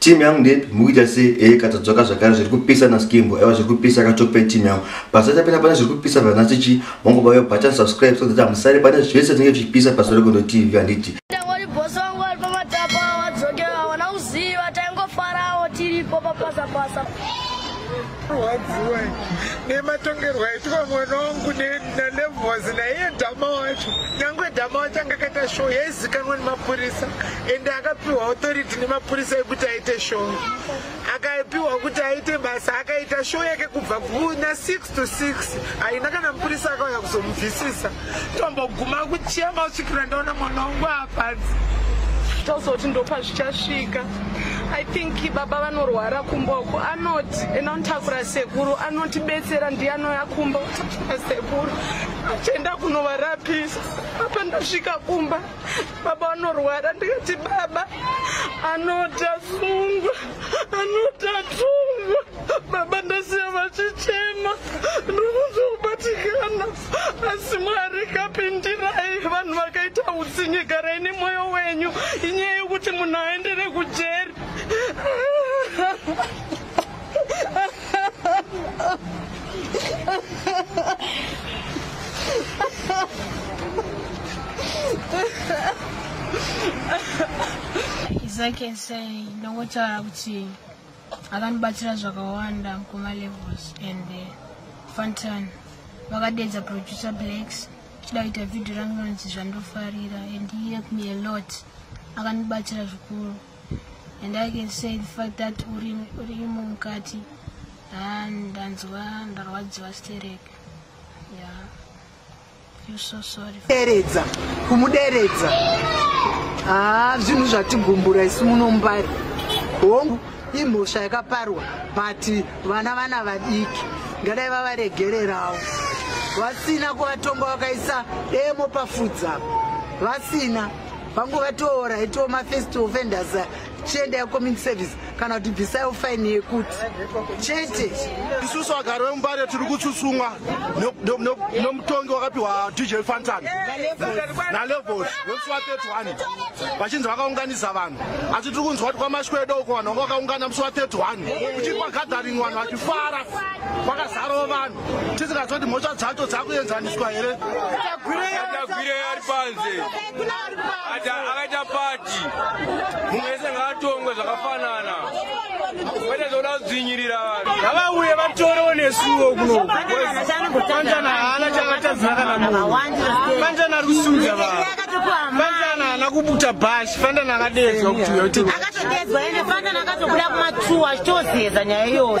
team yangu ndepi mukuita se ee katadzoka zvakare zviri kupisa na skimbo aiwa zviri kupisa katope team yangu pasata pena pane zviri kupisa vanasi chi mongova yo button subscribe so that amusare pane zvese tinenge tichipisa pasore kondo tv handiti tiripo papasa pasa rwadziwa nematongerwo aitwa mwana wangu nalevos naiye dhama wacho nyange dhama wacho anga akaita show yaizikanwa nemapurisa ende akapiwa authority nemapurisa ekuti aite show akapiwa kuti aite basa akaita show yake kubva kuna 6 to 6 haina kana mupurisa akauya kuzomubvisisa tomboguma kuchema kusvikira ndaona mwana wangu apanzi tozoti ndopa zvichasvika i think baba vanorwara kumboko anoti enda unotakura sekuru anotibetsera ndiye anouya kumba utakura sekuru achienda kunovarapisa apa ndasvika kumba baba vanorwara ndikati baba anoti asungwa anoti atungwa baba ndasiya vachichema ndikuzobatikana asi mwari kapindirai vanhu vakaita utsinye garai nemwoyo wenyu inyaya yokuti munhu aendere kujeri izakese ndongotaura kuti akandibatsira zvakawanda kuma levels and eh, fantan vakadeedza producer blacks chida kuita vhidhio rangu inonzi zvandofarira and he helped me a lot akandibatsira zvikuru and i can say the fact that uri imo mukati ndanzwa ndarwadziwa stereke ya yeah. deredza kumuderedza haa ah, zvinhu zvatigumbura isu munombari hongu imhosva yakaparwa but vana vana vadiki ngadai vavaregererawo vasina kuvatonga vakaisa demo pafudza vasina vangu vatoora itiwo mafirst offenders chiendai community service kana kuti bvisaiwo faini yekuti chete isusu vagari vemumbare tiri kutsutsumwa nomutongi wakapiwa dj fantan nalevos wemusuwa 31 vachinzi vakaunganisa vanhu asi tiri kunzwa kuti kwamashwedo uko vanhu vanga vakaungana musuwa 31 kuchiri kwagathering vanhu vachifara kwakazarawo vanhu tisingaziva kuti mhosva dzacho dzakuenzaniswa here tagwirei ari panze akaita pati mumwe wese ngaatongwe zvakafanana kwete zvoda kudzinyirira vanhu ngavauye vatorewo nesuwo kunokanjana haana chakatadzira kana munhu kanjana ari kusunza vanhu kanjana haana kubuta bhashi fandana akadedzwa kuti uyo kuti akatodedzwa ende fandana akatobuda kumatuwa achitozeza nyaya iyoyo